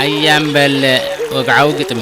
ኣያም በለ ወግዓዊ ግጥሚ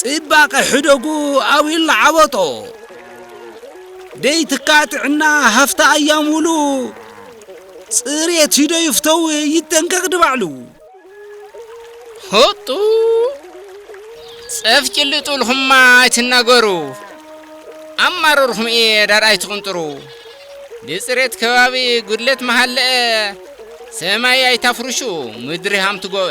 ጽባቐ ሕደጉ ኣዊል ዓበጦ ደይ ትካ ጥዕና ሃፍታ ኣያም ውሉ ጽሬት ሂዶ ይፍተው ይጠንቀቕ ድባዕሉ ሆጡ ጸፍ ጭልጡ ልኹማ ኣይትናገሩ ኣማረርኹም እየ ዳር ኣይትቕንጥሩ ብጽሬት ከባቢ ጉድለት መሃለአ ሰማይ ኣይታፍርሹ ምድሪ ሃምትጎበ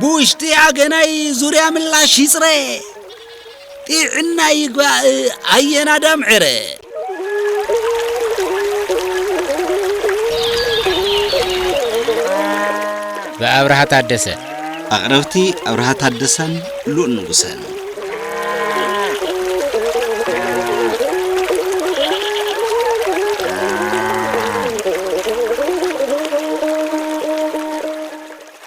ብውሽጢ ኣገናይ ዙርያ ምላሽ ይጽረ ጢዕና ይግባእ ኣየናዳም ዕረ ብኣብርሃ ታደሰ ኣቕረብቲ ኣብርሃ ታደሰን ሉል ንጉሰን